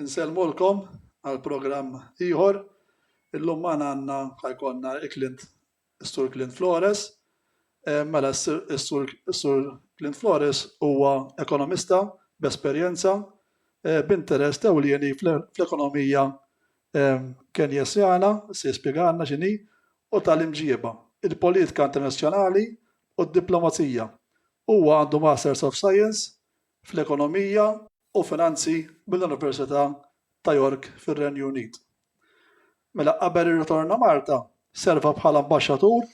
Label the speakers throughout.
Speaker 1: Nsellmulkom għal programm ieħor. Illum magħna għandna ħajkonna il-Clint is-Sur Clint Flores. Mela is-Sur Clint Flores huwa ekonomista b'esperjenza b'interess ewlieni fl-ekonomija Kenjesjana, se jispjegalna x'inhi, u tal-imġieba, il-politika internazzjonali u d-diplomazija. Huwa għandu Masters of Science fl-Ekonomija, u Finanzi mill-Università ta' York fir-Renju Unit. Mela qabel ir-ritorna Malta serva bħala Ambaxxatur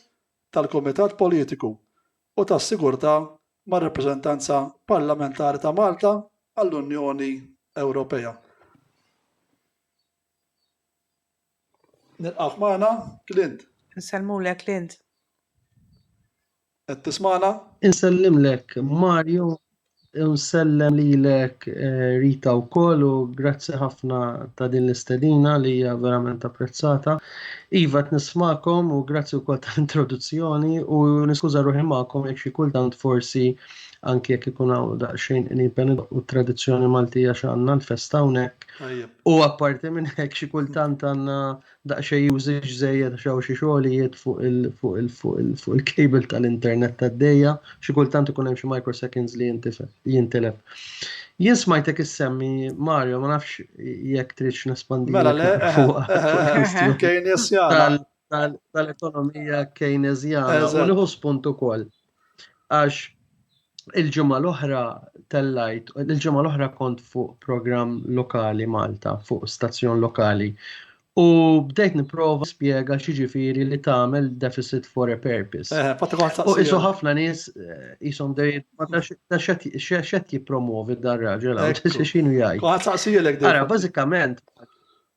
Speaker 1: tal-Kumitat Politiku u tas-Sigurtà mar-Rappreżentanza Parlamentari ta' Malta għall-Unjoni Ewropea. Nilqgħek magħna, Clint. Insellmulek, Clint. Qed tismagħna? Insellimlek, Mario, u nsellem lilek eh, Rita wkoll u grazzi ħafna ta' din l-istedina li hija verament apprezzata. Iva qed nismakom u grazzi wkoll tal-introduzzjoni u niskuża ruħi magħkom jekk xi kultant forsi anki jekk ikun hawn daqsxejn qnipen u tradizzjoni Maltija x'għandna l-festa hawnhekk. U apparti minn hekk xi kultant għandna daqsxejn usage żejjed xew xi xogħlijiet fuq il-cable tal-internet tad-dejja, xi kultant ikun hemm xi microseconds li jintilef. Jien smajtek issemmi Mario, ma nafx jekk tridx nespandi. Mela le, kien jessjala. tal-ekonomija Keynesjana u nieħu spunt ukoll. Għax il-ġimgħa l-oħra tellajt, il-ġimgħa l-oħra kont fuq programm lokali Malta, fuq stazzjon lokali. U bdejt niprova spiega xiġifieri li tagħmel deficit for a purpose. Eh, u isu ħafna nies jisom eh, dejt ta' xed jippromovi dar-raġel għal xinu jgħid. Ara, bażikament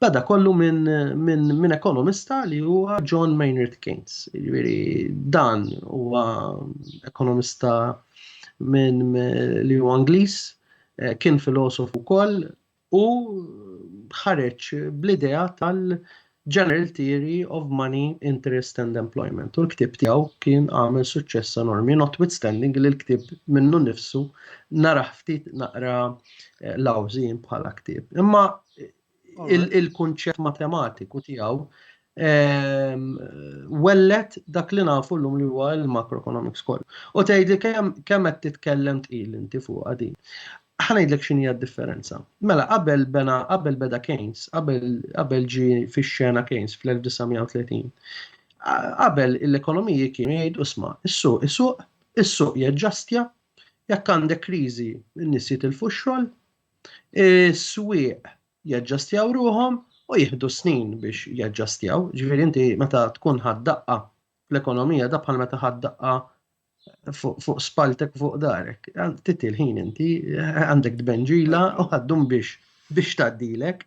Speaker 1: Bada kollu minn min, min ekonomista li huwa John Maynard Keynes. Jiġifieri dan huwa ekonomista minn li huwa Ingliż, eh, kien filosof ukoll u ħareġ bl-idea tal-General Theory of Money, Interest and Employment. U l-ktib tiegħu kien għamel suċċess enormi, notwithstanding li l-ktib minnu nifsu naraħ ftit naqra eh, lawżin bħala ktib. Imma il-kunċett matematiku tiegħu ehm, wellet dak li nafu l-lum li huwa l-macroeconomics kollu. U tgħidli kemm qed titkellem tqil inti fuq din. Ħanajdlek x'inhi d-differenza. Mela qabel bena qabel beda Keynes, qabel ġi fix-xena Keynes fl-1930. Qabel l-ekonomiji kienu jgħidu sma, is-suq, is-suq, is-suq jaġġastja, jekk għandek kriżi n-nies jitilfu x-xogħol, Is-swieq jaġġastjaw ruħhom u jieħdu snin biex jaġġastjaw. Ġifieri inti meta tkun ħadd daqqa fl-ekonomija da bħal meta ħadd daqqa fuq spaltek fuq darek. Titti l-ħin inti għandek tbenġila u għaddum biex biex taddilek.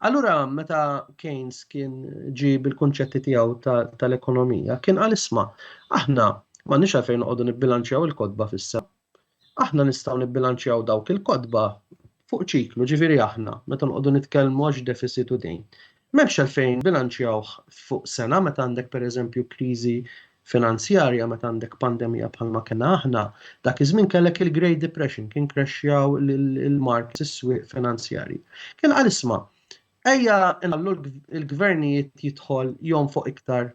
Speaker 1: Allura meta Keynes kien ġi bil-kunċetti tiegħu tal-ekonomija, kien għal isma' aħna ma nix għalfejn noqogħdu nibbilanċjaw il-kodba fissa. Aħna nistgħu nibbilanċjaw dawk il-kotba fuq ċiklu, ġifieri aħna, meta noqogħdu nitkellmu għax defisit u dejn. M'hemmx għalfejn bilanċjawh fuq sena meta għandek pereżempju kriżi finanzjarja, meta għandek pandemija bħalma kellna aħna, dak iż-żmien kellek il-Great Depression, kien krexxjaw il-markets, is-swieq finanzjarji. Kien qal isma', ejja nħallu l-gvernijiet jidħol jonfoq iktar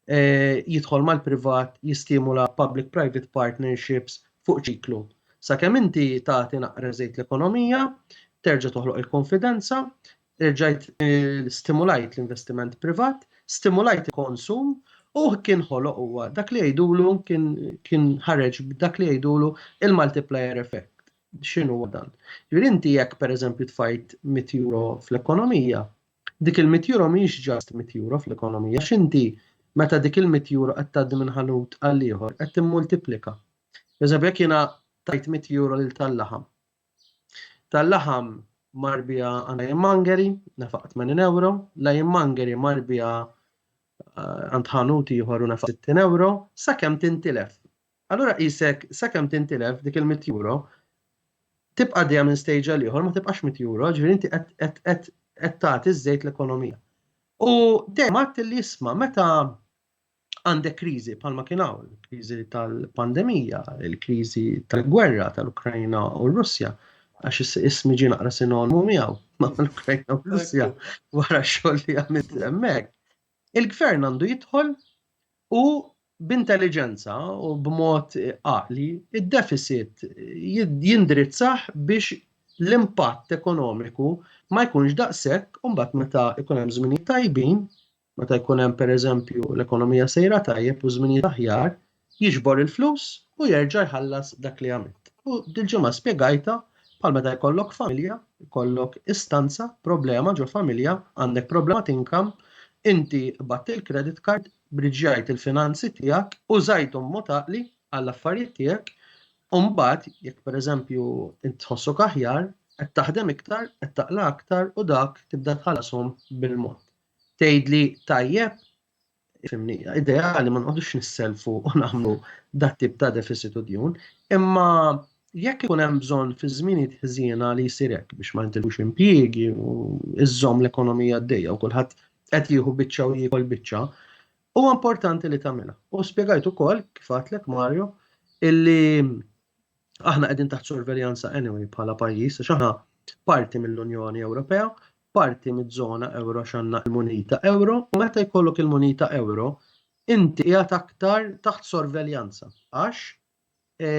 Speaker 1: eh, jidħol mal-privat jistimula public-private partnerships fuq ċiklu. Sakemm inti tagħti naqra żejt l-ekonomija, terġa' toħloq il-konfidenza, rġajt eh, stimulajt l-investiment privat, stimulajt il-konsum u kien ħoloq huwa dak li jgħidulu kien ħareġ dak li jgħidulu il-multiplier effect. X'inhu dan? Jrid inti jekk pereżempju tfajt 100 euro fl-ekonomija, Dik il-mitt euro mhijiex just mitt euro fl-ekonomija għax inti meta dik il-mitt euro qed tgħaddi minn ħanut għall-ieħor qed timmultiplika. Pereżempju jekk jiena tajt mitt euro lil tal-laħam. Tal-laħam mar biha għand Lion Mangeri, nefaq 80 euro, Lion Mangeri mar biha eh, għand ħanut ieħor u nefaq 60 euro, sakemm tintilef. Allura qisek sakemm tintilef dik il-mitt euro, tibqa' għaddejja minn stage għal ieħor ma tibqax mitt euro, ġifieri inti qed tagħti ż-żejt l-ekonomija. U dejjem għadt li isma' meta għandek kriżi bħalma kien hawn, kriżi tal-pandemija, il-kriżi tal-gwerra tal-Ukrajna u r-Russja, għax ismi ġie naqra sinonmu miegħu ma' l-Ukrajna u r-Russja wara x-xogħol li għamilt hemmhekk. Il-gvern għandu jidħol u b'intelliġenza u b'mod għaqli, id-defisit jindirizzah biex l-impatt ekonomiku ma jkunx daqshekk u mbagħad meta jkun hemm żminijiet tajbin, meta jkun hemm pereżempju l-ekonomija sejra tajjeb u żminijiet aħjar, jiġbor il-flus u jerġa' jħallas dak li għamilt. U dil-ġimgħa spjegajtha bħal meta jkollok familja, jkollok istanza, problema ġo familja, għandek problema t'inkamm, inti qbadt il-credit card, Briġġjajt il-finanzi tiegħek, użajthom mod għaqli għall-affarijiet tiegħek, u mbagħad jekk pereżempju int tħossok aħjar, qed taħdem iktar, qed taqla aktar u dak tibda tħallashom bil-mod. Tgħidli tajjeb, fimni, ideali ma nqogħdux nisselfu u nagħmlu dat tip ta' deficit u djun, imma jekk ikun hemm bżonn fi żminijiet ħżiena li jsir hekk biex ma jintilux impjiegi u iżżomm l-ekonomija għaddejja u kulħadd qed jieħu biċċa u jiekol biċċa, huwa importanti li tagħmilha. U spjegajt ukoll kif għatlek Mario illi aħna qegħdin taħt sorveljanza anyway bħala pajjiż għax aħna parti mill-Unjoni Ewropea, parti miż-żona euro x'għandna l-munita euro u meta jkollok il-munita euro inti qiegħed aktar taħt sorveljanza għax e,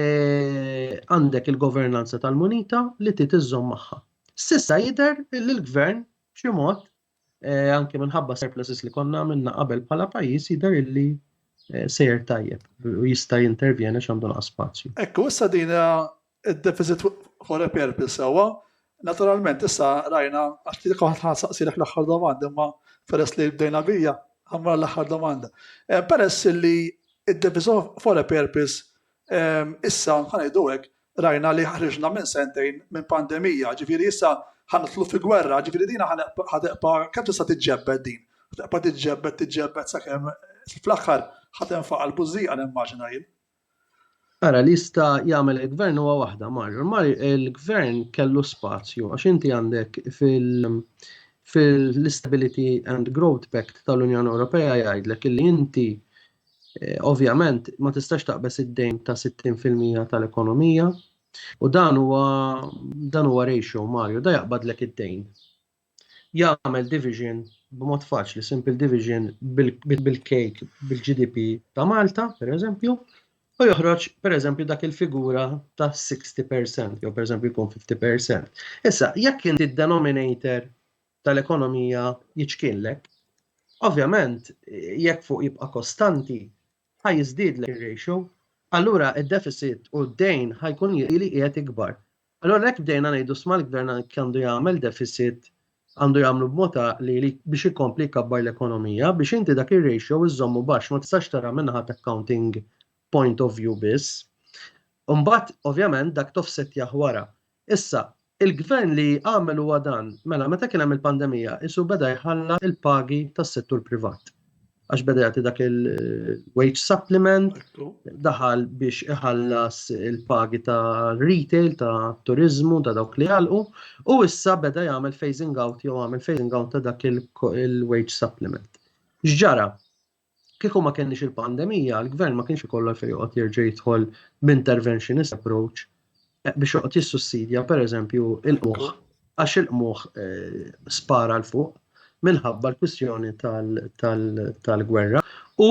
Speaker 1: għandek il-governanza tal-munita li titiżżomm magħha. Sissa jidher li l-gvern b'xi mod Eh, anke minħabba surpluses li konna minna qabel bħala pajjiż jidher illi eh, sejr tajjeb u jista' jintervjena x'għandu naqas spazju. Ekku, issa din eh, id-deficit for a purpose sewwa, naturalment issa rajna għax li kont ħansaqsilek l-aħħar domanda imma peress li bdejna bija għamra l-aħħar domanda. Peress li id-deficit for a purpose Issa, ħa ngħidu hekk, rajna li ħriġna minn sentejn minn pandemija, ġifieri issa ħa nidħlu fi gwerra, ġifieri din ħa teqpa' kemm tista' tiġġebbed din? Ħa teqpa' tiġġebbed, tiġġebbed sakemm fl-aħħar ħa tenfaqa' l-bużżieqa nimmaġina jien. Ara, li jista' jagħmel il-Gvern huwa waħda, Mario. Mario, il-Gvern kellu spazju għax inti għandek fil-Stability and Growth Pact tal-Unjoni Ewropea jgħidlek illi inti Eh, ovvjament, ma tistax taqbes id-dejn ta' 60% tal-ekonomija u dan huwa dan huwa ratio Mario, da jaqbadlek id-dejn. Jagħmel division b'mod faċli, simple division bil-cake bil-GDP ta' Malta, per eżempju, u joħroġ per eżempju dak il-figura ta' 60% jew per eżempju jkun 50%. Issa, jekk inti denominator tal-ekonomija jiċkiellek, ovvjament jekk fuq jibqa' kostanti ħa jiżdiedlek ir-ratio, allura d-deficit u d-dejn ħajkun li qiegħed ikbar. Allura hekk bdejna ngħidu sma' l-gvern għalhekk għandu jagħmel deficit għandu jagħmlu b'mod għaqli li biex ikompli jkabbar l-ekonomija biex inti dak ir-ratio iżżommu baxx ma tistax tara min-naħa ta' accounting point of view biss. Imbagħad ovvjament dak toffsettjah wara. Issa, il-Gvern li għamel huwa dan, mela meta kien hemm il-pandemija qisu beda jħallas il-pagi tas-settur privat għax beda jagħti dak il-wage supplement, daħal biex iħallas il-pagi ta' retail, ta' turizmu, ta' dawk li għalqu, u issa beda jagħmel phasing out jew għamel phasing out ta' dak il-wage supplement. X'ġara? Kieku ma kenniex il-pandemija, l-gvern ma kienx ikollu għalfejn joqgħod jerġa' jidħol b'interventionist approach eh, biex joqgħod jissussidja pereżempju il-qmuħ għax il-qmuħ eh, spara l fuq minħabba l-kwistjoni tal-gwerra u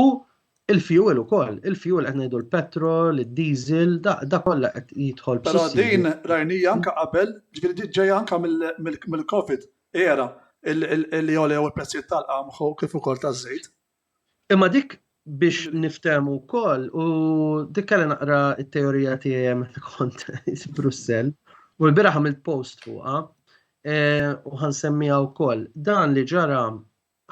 Speaker 1: il-fuel ukoll, il-fuel qed ngħidu l-petrol, id-diesel, da kollha qed jidħol. Però din rajnija anke qabel, ġifieri ġejja anke mill-COVID. Era, li għolew il-prezzijiet tal-qamħ u kif ukoll taż-żejt. Imma dik biex niftehmu wkoll u dik kelli naqra t-teorija tiegħi hemm meta kont Brussell u l-bieraħ għamilt post fuqha u ħansemmiha wkoll. Dan li ġara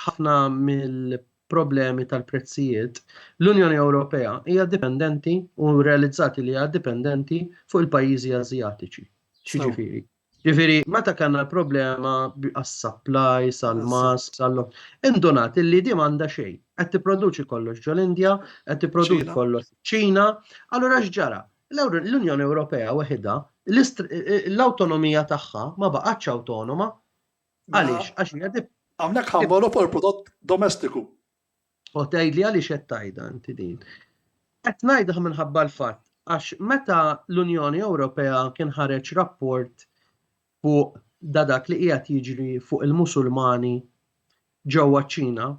Speaker 1: ħafna mill problemi tal-prezzijiet, l-Unjoni Ewropea hija dipendenti u realizzati li hija dipendenti fuq il-pajjiżi Ażjatiċi. Xiġifieri, Ġifiri, meta kanna l-problema għas-supply, sal-mask, sal-lom, indunat li di manda xejn. Qed tipproduċi kollox ġol-Indja, qed tipproduċi kollox ċina, allura x'ġara? L-Unjoni Ewropea weħida, l-autonomija tagħha ma baqgħatx autonoma. Għaliex? Għax Hawnhekk ħammolu fuq il-prodott domestiku. U tgħidli għaliex qed tgħidha inti din. Qed ngħidha minħabba l-fatt għax meta l-Unjoni Ewropea kien ħareġ rapport fuq da dak li qiegħed jiġri fuq il-Musulmani ġewwa ċ-Ċina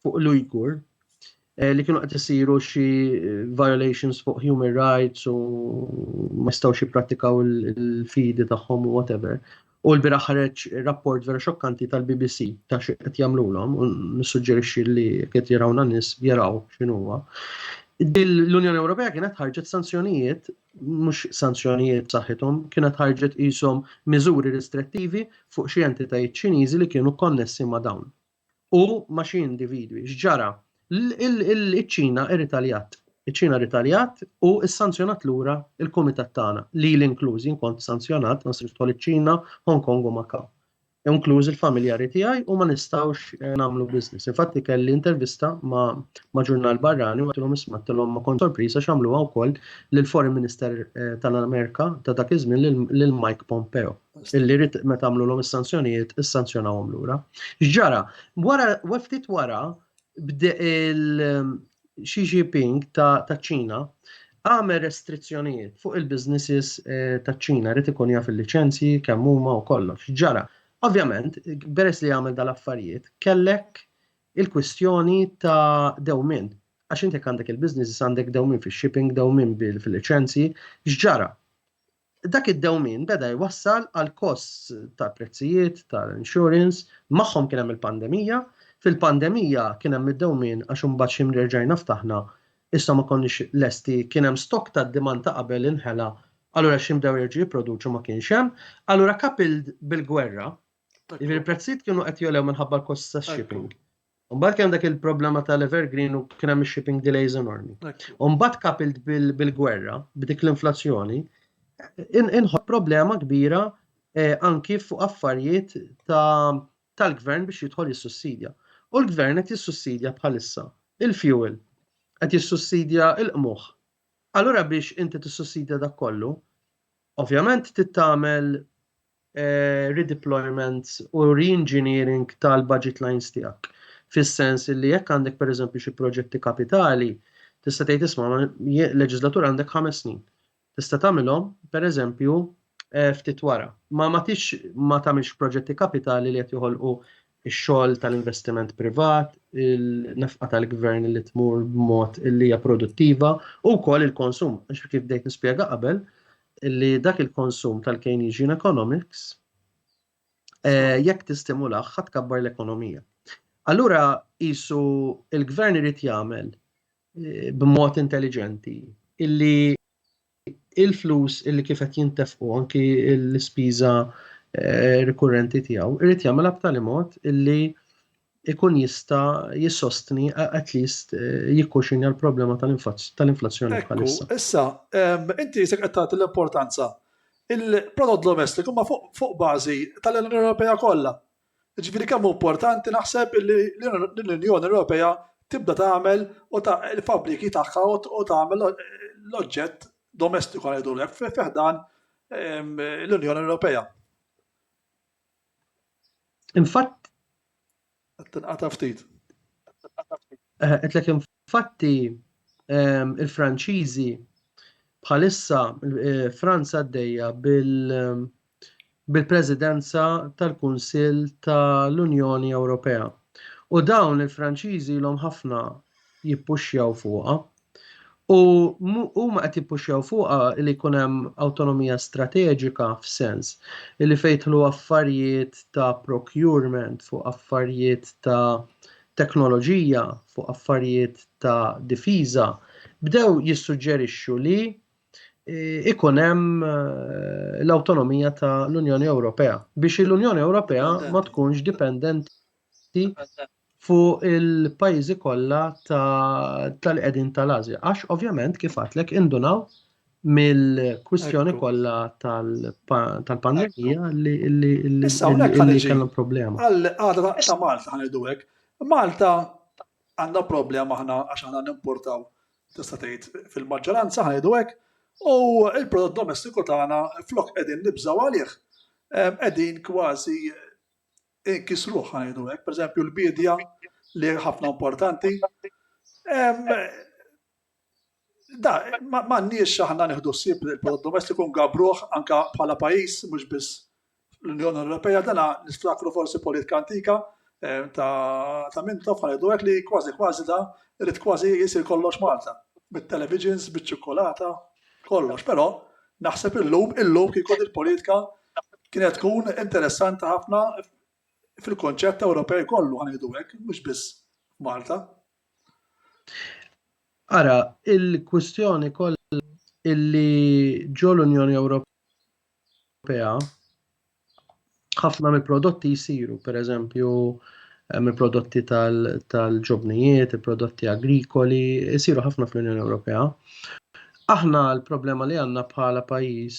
Speaker 1: fuq l-Ujgur eh, li kienu qed isiru xi eh, violations fuq human rights u ma jistgħux jipprattikaw il-fidi tagħhom u whatever. U l-biraħ ħareġ rapport vera xokkanti tal-BBC ta' xi qed jagħmlulhom u nissuġġerixxi li qed jarawna nies jaraw x'inhuwa. L-Unjoni Ewropea kienet ħarġet sanzjonijiet, mhux sanzjonijiet saħħithom, kienet ħarġet qishom miżuri ristrettivi fuq xi entitajiet Ċiniżi li kienu konnessi ma' dawn. u ma' xi individwi. X'ġara? Iċ-Ċina irritaljat. Iċ-Ċina rritaljat u ssanzjonat lura l-kumitat tagħna, lili inkluż, jien kont sanzjonat ma nistax nidħol iċ-Ċina, Hong Kong u Macau. Inkluż il-familjari tiegħi u ma nistgħux eh, nagħmlu business. Infatti kelli intervista ma' ġurnal barrani u għatilhom isma' tilhom ma kont sorpriża x'għamluha wkoll lill-Foreign Minister eh, tal-Amerika ta' dak iż-żmien lil Mike Pompeo. illi rrit ma tagħmlu l is-sanzjonijiet, is-sanzjonawhom lura. Ġara, wara, weftit wara, bde il- Xi Jinping ta' ċina għamel restrizzjonijiet fuq il-businesses eh, ta' ċina rrit ikun jaf il-liċenzji kemm huma u kollox. Ġara, ovvjament, beres li għamel dal-affarijiet, kellek il-kwistjoni ta' dewmin. Għax intek għandek il-businesses għandek dewmin fil-shipping, dewmin fil-liċenzji, x'ġara? Dak id-dewmien beda jwassal għal kosts ta' prezzijiet tal-insurance, magħhom kien hemm il-pandemija, fil-pandemija kien hemm id-dewmien għax imbagħad xi minn rġajna ftaħna, issa ma konniex lesti, kien hemm stock tad-demand ta' qabel inħela, allura xi bdew jerġgħu jipproduċu ma kienx hemm, allura coupled bil-gwerra, jiġifieri l-prezzijiet kienu qed jogħlew minħabba l-costs tax-shipping. Mbagħad għandek il-problema tal-evergreen u kien hemm shipping delays enormi. Mbagħad kapilt bil-gwerra, b'dik l-inflazzjoni, inħobb problema kbira eh, anki fuq affarijiet tal-gvern biex jidħol jissussidja. U l-gvern qed jissussidja bħalissa il-fuel, qed jissussidja il-qmuħ. Allura biex inti tissussidja dak kollu, ovvjament tittamel redeployments u re-engineering tal-budget lines tiegħek. Fis-sens li jekk għandek pereżempju xi proġetti kapitali, tista' tgħid isma' leġislatur għandek ħames snin. Tista' tagħmilhom pereżempju eh, ftit wara. Ma ma tix ma tagħmilx proġetti kapitali li qed joħolqu ix-xogħol tal-investiment privat, il-nefqa tal-gvern li tmur b'mod li hija produttiva u wkoll il-konsum. Għax kif bdejt nispjega qabel, li dak il-konsum tal-Keynesian economics jekk tistimulah ħadd kabbar l-ekonomija. Allura qisu il-gvern irid jagħmel eh, b'mod intelligenti illi il-flus illi kif qed jintefqu anki l-ispiża eh, rikurrenti tiegħu irid jagħmel b'tali mod illi ikun jista jissostni at least eh, jikkuxinja l-problema tal-inflazzjoni bħalissa. Issa, inti jisek qed l-importanza. Il-prodott domestiku ma fuq bażi tal-Unjoni Ewropea kollha. Ġifieri kemm importanti naħseb li l-Unjoni Ewropea tibda tagħmel u ta' il-fabriki tagħha u tagħmel l-oġġett domestiku ngħidu l fiħdan l-Unjoni Ewropea. Infatt. Tinqata ftit. Eh, qedlek infatti ehm, il-Franċiżi bħalissa eh, Franza għaddejja ehm, bil-presidenza tal-Kunsill tal-Unjoni Ewropea. U dawn il-Franċiżi l ħafna jippuxjaw fuqha U huma qed jippuxjaw fuqha li jkun hemm awtonomija strateġika f'sens li fejdħlu affarijiet ta' procurement fuq affarijiet ta' teknoloġija, fuq affarijiet ta' difiża, bdew jissuġġerixxu li ikun hemm l-awtonomija ta' l-Unjoni Ewropea biex l-Unjoni Ewropea ma tkunx dipendenti fuq il-pajjiżi kollha tal-qegħdin tal-Asja. Għax ovvjament kif għatlek indunaw mill-kwistjoni kollha tal-pandemija li kellhom problema. Għadra ta' Malta ħanejdu hekk. Malta għandha problema aħna għax aħna nimportaw tista' tgħid fil-maġġoranza ħanejdu hekk u l-prodott domestiku tagħna flok qegħdin nibżgħu għalih qegħdin kważi inkisruh ħa ngħidu hekk, pereżempju l-biedja li ħafna importanti. Da, m'għandniex aħna nieħdu ssib il-prodott domestiku ngabruh anka bħala pajjiż mhux biss l-Unjoni Ewropea dana niftakru forsi politika antika eh, ta' minn tof ħajdu għek li kważi kważi da rrit kważi jisir kollox Malta. Bit-televisions, bit-ċokolata, kollox. Pero naħseb illum, illum kikod il-politika Kienet tkun interessanti ħafna fil-kunċett Ewropej kollu ħa ngħidu hekk, mhux biss f'Malta. Ara, il-kwistjoni kollha illi ġo l-Unjoni Ewropea ħafna mill-prodotti jsiru, pereżempju eh, mill-prodotti tal-ġobnijiet, il-prodotti agrikoli, jsiru ħafna fl-Unjoni Ewropea. Aħna l-problema li għandna bħala pajjiż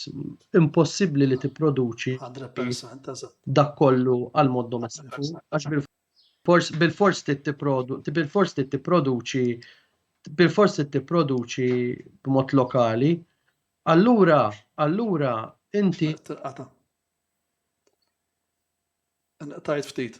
Speaker 1: impossibbli li tipproduċi dak kollu għal mod domestiku għax bil-fors bil-fors tipproduċi bil-fors tipproduċi bil-fors tipproduċi b'mod lokali. Allura, allura inti Tajt ftit.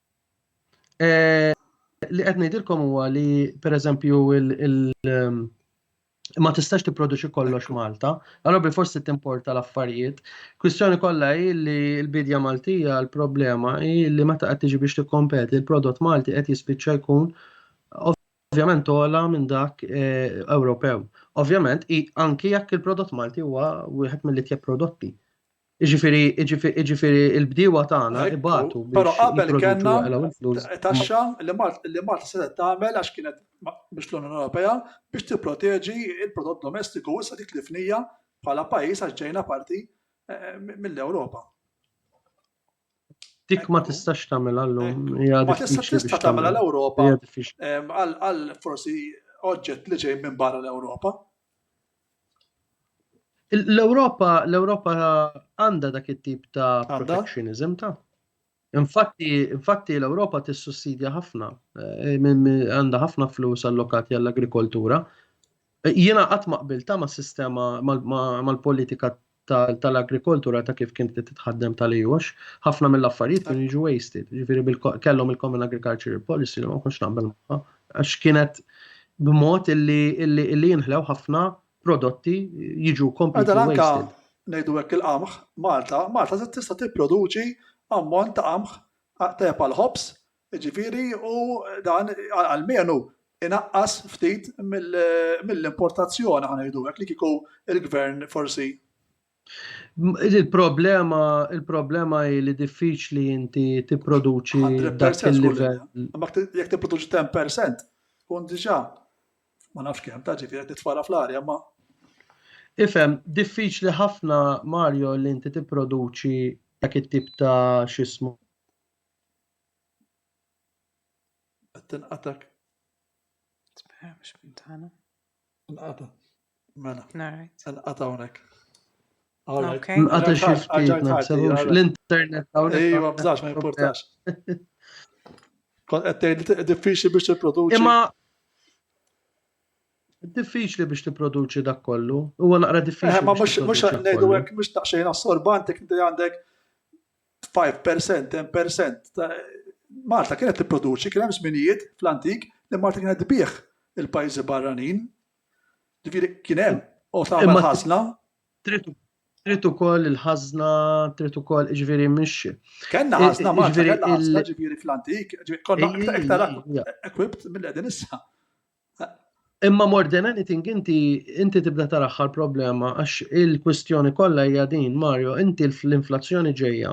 Speaker 1: Eh, li qed ngħidilkom huwa li pereżempju il um, ma tistax tipproduċi kollox Malta, allora bil forsi timporta l-affarijiet. Kwistjoni kollha hi li l-bidja Maltija l-problema hi li meta qed tiġi biex tikkompeti l-prodott Malti qed jispiċċa jkun ovvjament ola minn dak eh, Ewropew. Ovvjament anki jekk il-prodott Malti huwa wieħed mill-itjeb prodotti. Iġifiri, iġifiri, il-bdiewa tagħna ibatu. Però qabel kellna taxxa li Malta setgħet tagħmel għax kienet biex l-Unjoni Ewropea biex tipproteġi il-prodott domestiku issa dik li fnija bħala pajjiż għax ġejna parti eh, mill-Ewropa. Dik ma tistax tagħmel għallum. Eh, ma tistax tista' tagħmel għall-Ewropa eh, għal forsi oġġett li ġej minn barra l-Ewropa. L-Ewropa, l-Ewropa għandha dak it-tip ta' protectionism ta' Infatti, infatti l-Ewropa tissussidja ħafna, eh, għandha ħafna flus allokati għall-agrikoltura. Eh, jiena qatt ma qbilta ma' sistema mal-politika tal-agrikoltura ta' kif kienet titħaddem tal-EU għax ħafna mill-affarijiet kienu jiġu wasted. Ġifieri kellhom il-Common Agricultural Policy li ma konx naqbel magħha għax kienet b'mod illi jinħlew ħafna prodotti jiġu kompletely wasted. Ngħidu hekk il-qamħ, Malta, Malta tista' tipproduċi ammont ta' qamħ tajjeb għall-ħobż Jiġifieri u dan almenu inaqqas ftit mill-importazzjoni ħa ngħidu hekk li kieku l-Gvern forsi. Il-problema il-problema hi li diffiċli inti tipproduċi dak il-livell. Imma jekk tipproduċi 10% tkun diġà ma nafx kemm ta' ġifieri qed nitfala fl-arja ma. Ifhem, diffiċli ħafna Mario li inti tipproduċi dak it-tip ta' x'ismu. Qed tinqatak. Spera mhux minn tagħna. Inqata. Mela. Narajt. Inqata hawnhekk. Okay. Inqata xi ftit nafsewx l-internet hawnhekk. Ejwa bżax ma jimpurtax. Kont qed tgħid diffiċli biex tipproduċi. Imma diffiċli biex tipproduċi dak kollu. Huwa naqra diffiċli. Eh, ma mhux ngħidu hekk mhux taqxejn assorbanti kinti għandek Five percent, ten percent. Malta kienet tipproduċi, kien hemm żminijiet fl-antik li Malta kienet tbigħ il-pajjiżi barranin. Ġifieri kien hemm u tagħmel ħażna. Trid ukoll il-ħażna, trid ukoll ġifieri mhix. Kellna ħażna Malta, ġifieri fl-antik, konna iktar equipped mill-qegħdin issa. Imma more than anything inti inti tibda taraħħal problema għax il-kwistjoni kollha hija din Mario, inti l-inflazzjoni ġejja.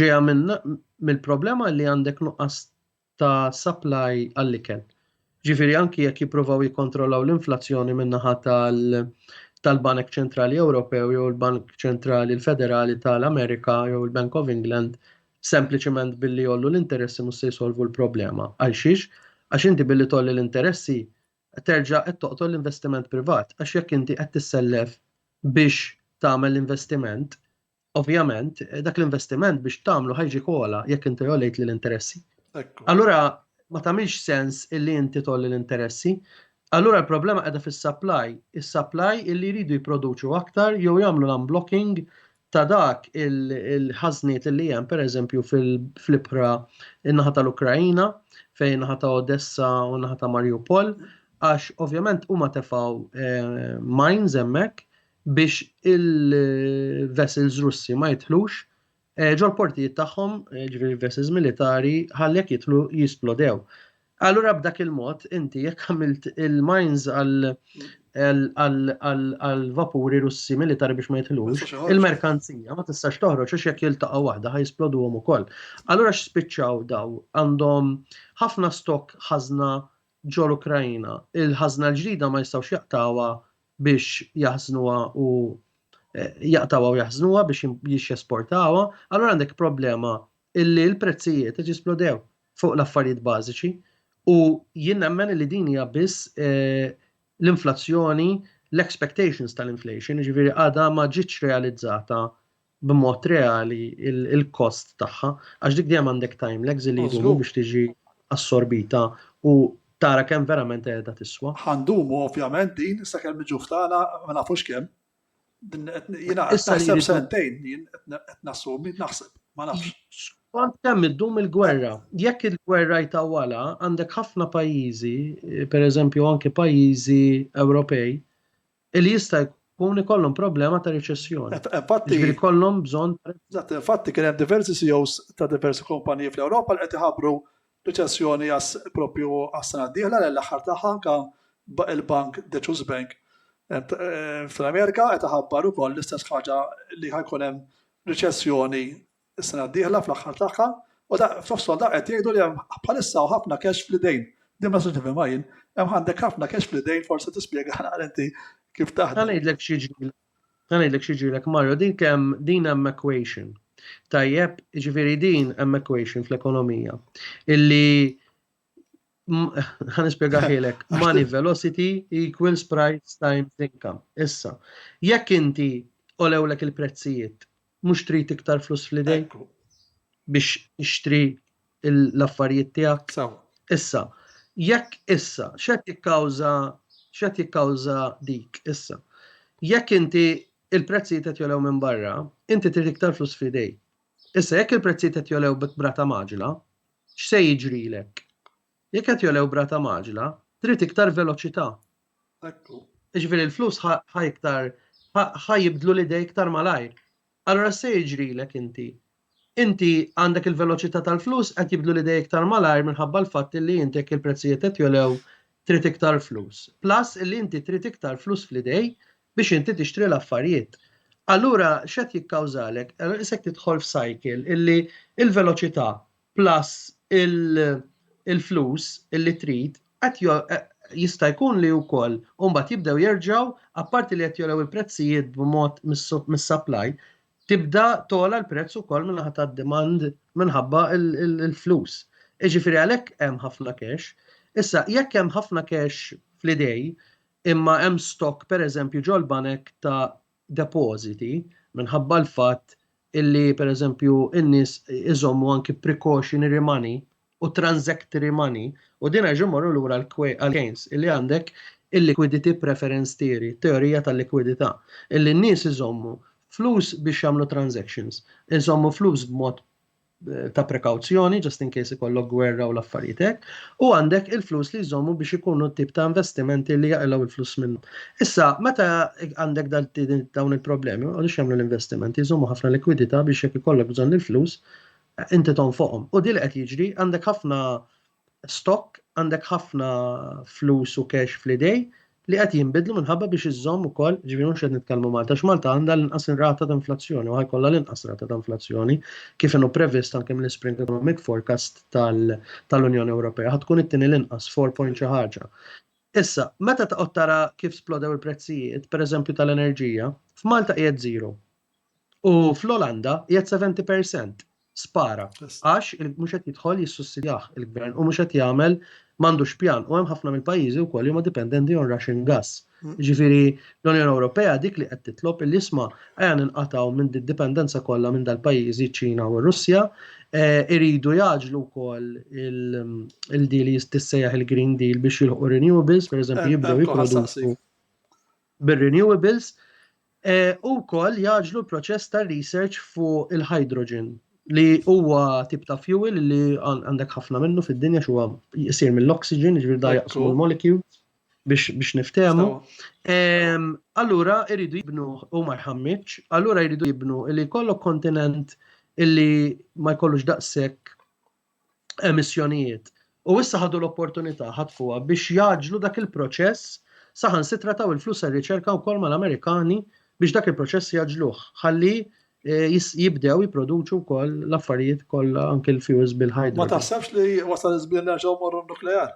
Speaker 1: Ġejja mill-problema li għandek nuqqas ta' supply għall-ikel. Ġifieri anki jekk jippruvaw jikkontrollaw l-inflazzjoni min-naħa tal-Banek Ċentrali Ewropew jew il-Bank Ċentrali l-Federali tal-Amerika jew il-Bank of England sempliċement billi jollu l-interessi mhux se jsolvu l-problema. Għal xiex? Għax inti billi tolli l-interessi terġa' qed toqtol l-investiment privat għax jekk inti qed tissellef biex tagħmel l-investiment, ovvjament dak l-investiment biex tagħmlu ħajġi kola jekk inti jolejt l-interessi. Allura ma tagħmilx sens illi inti tolli l-interessi. Allura l-problema qiegħda fis-supply, is-supply illi jridu jipproduċu aktar jew jagħmlu l-unblocking ta' dak il-ħażniet li hemm pereżempju fl-ibħra in-naħa tal-Ukraina fejn naħa ta' Odessa u naħa ta' Mariupol għax ovvjament huma tefgħu eh, mines hemmhekk biex il-vessels Russi ma jidħlux eh, ġol portijiet tagħhom, eh, ġifieri vessels militari, ħallek jidħlu jisplodew. Allura b'dak il-mod, inti jekk għamilt il-mines għal-vapuri russi militari biex ma jitħlux, il-merkanzija ma tistax toħroġ għax jekk jiltaqgħu waħda ħajsploduhom ukoll. Allura x'spiċċaw daw għandhom ħafna stok ħażna ġol Ukrajina. Il-ħażna l-ġdida ma jistgħux jaqtawha biex jaħżnuha u eh, jaqtawha u jaħżnuha biex jesportawha, allura għandek problema illi l-prezzijiet qed jisplodew fuq l-affarijiet bażiċi u jien nemmen li din hija biss eh, l-inflazzjoni, l-expectations tal-inflation, ġifiri għada ma ġietx realizzata b'mod reali il-kost tagħha, għax dik dejjem għandek time lags li jdumu biex tiġi assorbita u tara kemm verament qiegħda tiswa. Għandumu ovvjament din sakemm niġu ftana ma nafux kemm. Jina, naħseb sentejn, jien qed nassumi, naħseb, ma nafx. Kont kemm iddum il-gwerra. Jekk il-gwerra jtawala, għandek ħafna pajjiżi, per eżempju anki pajjiżi Ewropej, li jista' jkun ikollhom problema ta' riċessjoni. Infatti, kollhom bżonn. Infatti kien hemm diversi CEOs ta' diversi kumpaniji fl-Ewropa li qed iħabbru riċessjoni għas propju għas-sena d-dieħla li l-aħħar tagħha anke il-bank Deċuż Bank fl-Amerika qed iħabbar ukoll l-istess ħaġa li ħa jkun hemm riċessjoni s-sena d-dieħla fl-aħħar tagħha u da f'nofshom da qed jgħidu li hemm bħalissa hawn ħafna cash fl-idejn. Din ma nistax nifhimha jien. Hemm għandek ħafna cash fl-idejn forsi tispjega naqra inti kif taħdem. Ħa ngħidlek x'jiġri Ħa ngħidlek x'jiġrilek Mario, din kemm din hemm equation. Tajjeb, jiġifieri din hemm equation fl-ekonomija. Illi ħa nispjegaħilek money velocity equals price times income. Issa, jekk inti olewlek il-prezzijiet Mhux trid iktar flus fl-idejk biex tixtri l-affarijiet tiegħek. Issa, jekk issa, x'qed jikkawża x'qed jikkawża dik issa? Jekk inti il-prezzijiet qed jolew minn barra, inti trid iktar flus fl-idejk. Issa, jekk il-prezzijiet qed jolew b'brata maġla, x'se jiġrilek? Jekk qed jolew brata maġla, trid iktar veloċità. Ekku. Ġifieri l-flus ħa iktar ħa jibdlu l-idej iktar malajr. Allura se jiġrilek inti. Inti għandek il-veloċità tal-flus qed jibdlu l-idej iktar malajr minħabba l-fatt li inti jekk il-prezzijiet qed jolew trid iktar flus. Plus li inti trid iktar flus fl-idej biex inti tixtri l-affarijiet. Allura x'qed jikkawżalek? Isek tidħol f'cycle illi il-veloċità plus il-flus li trid qed jista' jkun li wkoll u mbagħad jibdew jerġgħu apparti li qed jogħlew il-prezzijiet b'mod mis-supply tibda togħla l-prezz ukoll min-naħa tad-demand minħabba l-flus. Jiġifieri għalhekk hemm ħafna cash. Issa jekk hemm ħafna cash fl-idej imma hemm stock pereżempju ġol-banek ta' depożiti minħabba l-fatt illi pereżempju n-nies iżommu anki precautionary money u transactory money u din għax imorru lura għal-Keynes illi għandek il-liquidity preference theory, teorija tal-likwidità, illi n-nies iżommu flus biex jagħmlu transactions, iżommu flus b'mod ta' prekawzjoni, just in case ikollok gwerra u l-affarijiet hekk, u għandek il-flus li jżommu biex ikunu tip ta' investimenti li jaqilgħu il-flus minnu. Issa, meta għandek dawn il-problemi, u għaliex jagħmlu l-investimenti, jżommu ħafna likwidità biex jekk ikollok bżonn il-flus, inti tonfoqhom. U dil qed jiġri, għandek ħafna stock, għandek ħafna flus u cash fl-idej li qed jinbidlu minħabba biex iżżomm ukoll, ġifieri mhux qed nitkellmu Malta, għax Malta għandha l-inqas rata ta' inflazzjoni u ħajkollha l-inqas rata ta' inflazzjoni kif inhu previst anke mill-Spring Economic Forecast tal-Unjoni Ewropea ħa tkun it-tieni l-inqas 4 point xi ħaġa. Issa, meta taqgħod tara kif splodew il-prezzijiet, pereżempju tal-enerġija, f'Malta qiegħed zero. U fl-Olanda qiegħed 70%. Spara. Għax mhux qed jidħol jissussidjah il-gvern u mhux qed jagħmel m'għandux pjan u hemm ħafna mill-pajjiżi wkoll huma dipendenti on Russian gas. Mm. Ġifieri l-Unjoni Ewropea dik li qed titlob li isma' għan inqataw minn dipendenza kollha minn dal-pajjiżi ċina u Russja eh, iridu jaġlu wkoll il-deal jistissejjaħ il-Green Deal biex jilħu renewables, pereżempju eh, jibdew eh, jipproduċu bir-renewables U wkoll jagħġlu l-proċess ta' research fuq il-hydrogen li huwa tip ta' fuel li għandek ħafna minnu fid-dinja x'huwa jsir mill-oxygen, ġifier da jaqsmu l-molecules biex niftehmu. Allura jridu jibnu u marħammiċ, allura jridu jibnu li jkollok kontinent illi ma jkollux daqshekk emissjonijiet u issa ħadu l-opportunità ħatfuha biex jagħġlu dak il-proċess saħansitra taw il-flus għar-riċerka wkoll mal-Amerikani biex dak il-proċess jaġluh ħalli eh, jibdew jipproduċu wkoll l-affarijiet kollha anke l-fjuż bil-ħajja. Ma taħsebx li wasal iż-żmien nerġgħu morru nuklear?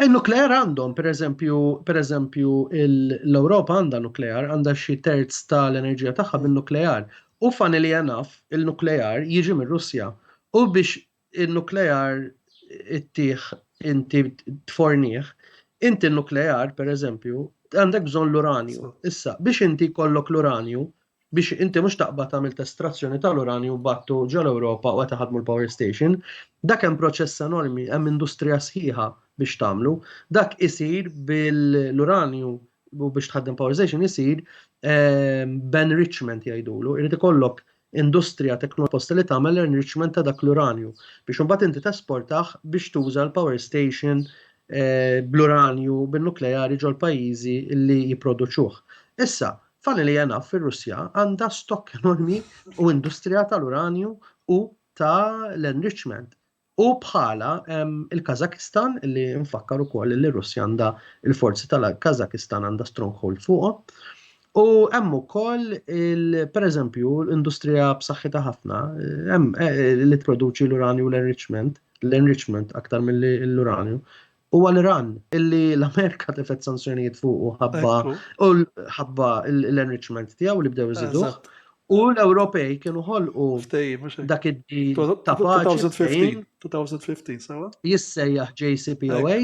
Speaker 1: Il-nuklear għandhom, per eżempju, per eżempju, l-Europa għandha nuklear, għandha xi terz tal-enerġija tagħha bin-nuklear. U funnily enough, il-nuklear jiġi mir-Russja. U biex il-nuklear ittih inti tfornih, inti n-nuklear, per eżempju, għandek bżonn l-uranju. Issa, biex inti kollok l-uranju, biex inti mhux taqbad tagħmel testrazzjoni tal-uranju battu ġol Ewropa u qed iħadmu l-power station. Dak hemm proċess enormi, hemm industrija sħiħa biex tagħmlu. Dak isir bil-uranju u biex tħaddem power station isir ehm, b'enrichment jgħidulu. Irid ikollok industrija teknoposta li tagħmel l-enrichment ta' dak l-uranju biex imbagħad inti tesportaħ biex tuża l-power station eh, bl-uranju bin-nukleari ġol pajjiżi li jipproduċuh. Issa, F'għana li jena fir-Russja għandha stokk enormi u industrija tal-uranju u ta' l-enrichment. U bħala il-Kazakistan li nfakkar ukoll li r-Russja għandha il-forzi tal-Kazakistan għandha stronghold fuqhom. U hemm ukoll pereżempju industrija b'saħħitha ħafna hemm eh, li tproduċi l-uranju l-enrichment, l-enrichment aktar mill-uranju huwa l-Iran illi l-Amerika tifet sanzjonijiet fuq u ħabba u ħabba l-enrichment tiegħu li bdew iżidu. U l-Ewropej kienu ħolqu dak id-dil ta' 2015, sawa? Jissejjaħ JCPOA.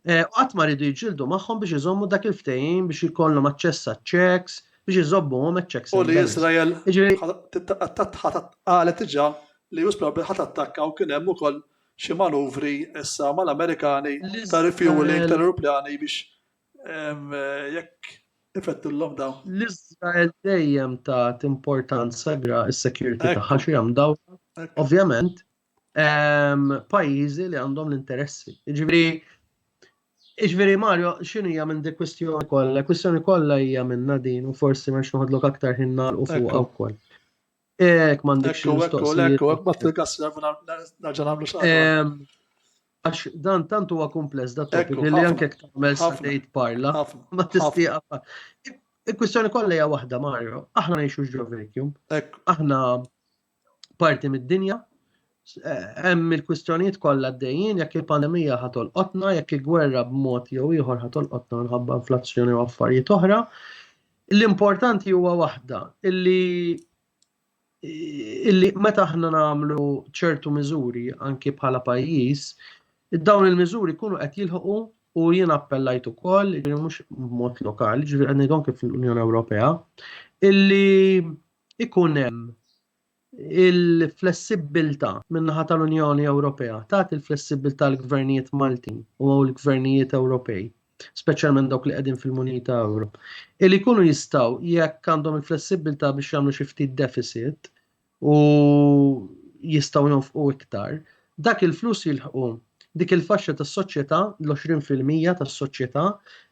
Speaker 1: Eh, qatt ma rridu jġildu magħhom biex iżommu dak il-ftehim biex ikollhom aċċess għaċ-checks, biex iżobbuhom għaċ-checks. U li Izrael qalet diġà li jus probabbli ħadd attakka u kien hemm ukoll xi manuvri issa mal-Amerikani ta' refueling tal-aeroplani biex jekk ifettillhom dawn. L-Iżrael dejjem tat importanza kbira s-security tagħha xi hemm dawn. Ovvjament, pajjiżi li għandhom l-interessi. Jiġifieri Iġveri Mario, xinu hija minn dik kwistjoni kollha? Kwistjoni kollha hija minna din u forsi ma noħodlok aktar ħin nagħlqu fuqha wkoll. Ek, mandek xie mistoqsijiet. Ekku, ekku, bat il-gas nerġa namlu xaqqa. Għax dan tant huwa kumpless da topic li anke tagħmel sejt parla ma tistieqa. Il-kwistjoni kollha hija waħda Mario, aħna ngħixu ġo vacuum. Aħna parti mid-dinja, hemm il-kwistjonijiet kollha għaddejjin jekk il-pandemija ħatol qotna, jekk il-gwerra b'mod jew ieħor ħatol qotna minħabba inflazzjoni u affarijiet oħra. L-importanti huwa waħda illi illi meta aħna nagħmlu ċertu miżuri anki bħala pajjiż, dawn il-miżuri jkunu qed jilħqu u jien appellajt ukoll, ġifieri mhux b'mod lokali, ġifieri qed ngħidhom kif l-Unjoni Ewropea, illi ikun hemm Il-flessibbiltà min-naħa tal-Unjoni Ewropea tagħti l-flessibbiltà lill-gvernijiet Maltin u lill-gvernijiet Ewropej, speċjalment dawk li qegħdin fil-munita euro, li jkunu jistgħu, jekk għandhom il-flessibbiltà biex jagħmlu xi ftit defiċit u jistgħu jonfqu iktar, Dak il-flus jilħqu dik il-faxxa tas-soċjetà, l-għoxrin fil-mija tas-soċjetà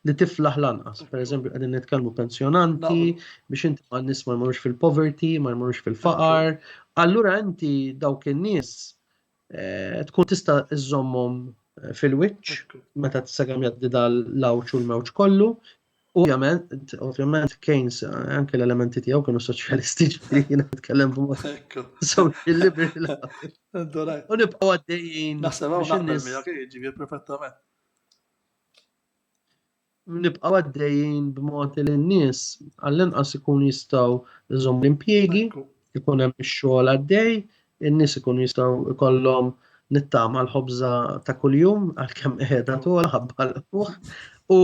Speaker 1: li tiflaħ l-anqas. Pereżempju qegħdin nitkellmu pensjonanti biex inti ma nies ma jmorrux fil-poverty, ma jmorrux fil-faqar. Allura inti dawk in-nies eh, tkun tista' iżommhom eh, fil-wiċċ meta t-sagam jaddi dal-lawċ u l-mewġ kollu, Ovvjament, ovvjament Keynes, eh, anke l-elementi tiegħu kienu soċjalisti ġifieri jiena nitkellem b'mod social liberal. U nibqgħu għaddejjin. Naħseb hawn naqbel miegħek eh, ġifieri perfettament. Nibqgħu għaddejjin b'mod li n-nies għall-inqas ikun jistgħu jżomm l-impjiegi, ikun hemm ix-xogħol għaddej, in-nies ikun jistgħu jkollhom nittama l-ħobża ta' kuljum għalkemm qiegħda togħol ħabba l u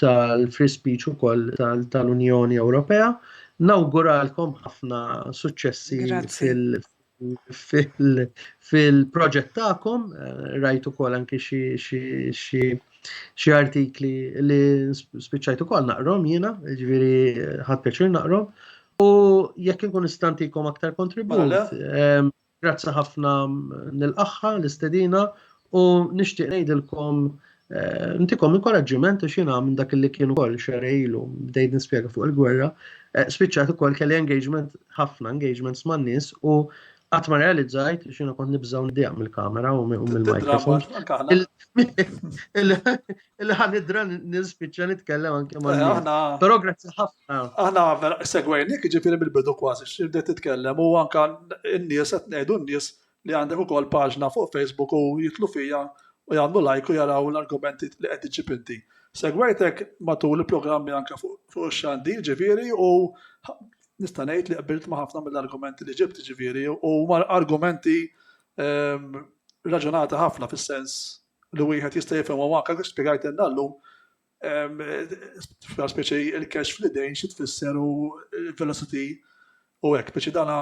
Speaker 1: tal-free speech ukoll tal-Unjoni Ewropea. Nawguralkom ħafna suċċessi fil-proġett tagħkom, rajt ukoll anki xi artikli li spiċċajt ukoll naqrom jiena, ġifieri ħadd pjaċir naqrom. U jekk inkun istantikom aktar kontribut, Grazzi ħafna nilqaħħa l-istedina u nixtieq ngħidilkom eh, ntikom inkoraġġiment għax jiena minn dak li kien ukoll xerej ilu bdejt nispjega fuq il-gwerra, eh, spiċċat ukoll kelli engagement ħafna engagements man-nies u qatt ma realizzajt xina kont nibżgħu nidieq mill-kamera u mill-mikrofon. Illi ħan idra nispiċċa nitkellem anke ma' Aħna. Però grazzi ħafna. Aħna vera segwejnik ġifieri mill-bidu kważi x'ibdet titkellem u anke n-nies qed ngħidu n-nies li għandek ukoll paġna fuq Facebook u jitlu fija u jagħmlu lajk u jaraw l-argumenti li qed iġib inti. Segwejtek matul il-programmi anke fuq xandi ġifieri u nista' ngħid li qbilt ma' ħafna mill-argumenti li ġibt ġifieri u argumenti ehm, raġunata ħafna fis-sens li wieħed jista' jifhimha u anke kif spjegajtilna llum, fl-aħħar speċi il-cash fl-idejn xi tfisser u l-velocity u hekk, speċi dan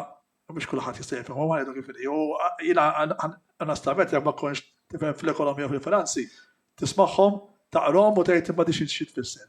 Speaker 1: mhux kulħadd jista' jifhimha u għidu kif inhi. U jiena onestament jekk ma tkunx tifhem fl-ekonomija u fil-finanzi, tismagħhom, taqrahom u tgħid imma di xi tfisser.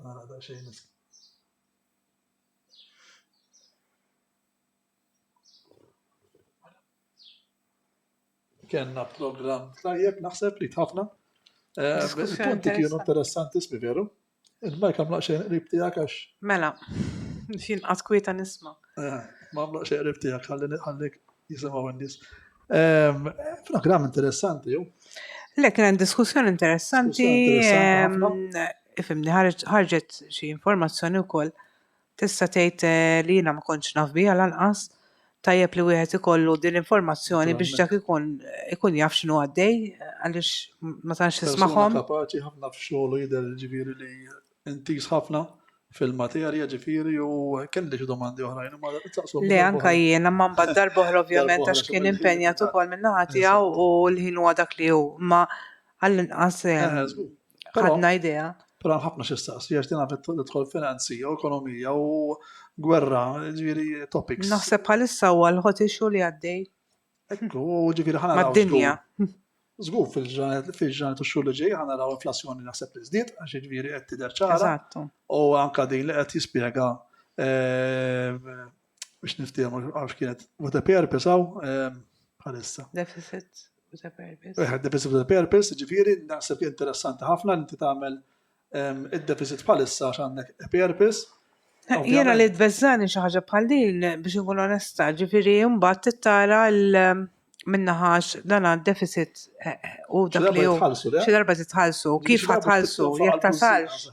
Speaker 1: Għana daqsxejn is. Kenna program tajjeb naħseb li tħafna. Eh, punti kienu interessanti smi veru. Il-ma jkamlaq xejn qrib tiegħek għax. Mela, xin qaskwieta nisma. Eh, ma għamlaq xejn qrib tiegħek ħalli ħallik Jisemaw għandis. Ehm, program interessanti, ju. Le, kien diskussjoni interessanti. Ehm, ifimni, ħarġet xi informazzjoni wkoll. Tista' tgħid eh, li jiena ma kontx naf bija lanqas tajjeb li wieħed ikollu din l-informazzjoni biex dak ikun ikun jaf x'inhu għaddej għaliex ma tantx tismagħhom. Kapaċi ħafna f'xogħol jidher ġifieri li intiż ħafna fil-materja ġifieri u kelli xi domandi oħrajn imma taqsum. Le anka jiena ma mbagħad darba oħra ovvjament għax kien impenjat ukoll minn naħa tiegħu u l-ħin huwa dak li hu ma għall-inqas eh, eh, eh, ħadna idea. Però ħafna xi staqsi għax din għafet tidħol finanzi u ekonomija u gwerra ġifieri topics. Naħseb bħalissa huwa l-ħotixu li għaddej. Ekku, ġifieri ħana. Mad-dinja. Żgur fil-ġranet fil-ġranet u x-xhur li ġej ħana naraw inflazzjoni naħseb li żdied għax jiġifieri qed tidher ċara. Eżattu. U anka din li qed jispjega eh, biex niftehom għax kienet with a purpose hawn eh, bħalissa. Deficit with a purpose. Eħe, deficit with a purpose, ġifiri, naħseb li interessanti ħafna li inti tagħmel Id-deficit bħalissa għax għandek EPRPs. Jena li d-vezzani xaħġa bħal din biex nkun onesta, ġifiri jumbat t-tara l- minnaħax dan għad deficit eh, eh, u dak li u xi darba titħallsu, kif ħatħallsu, jek tasalx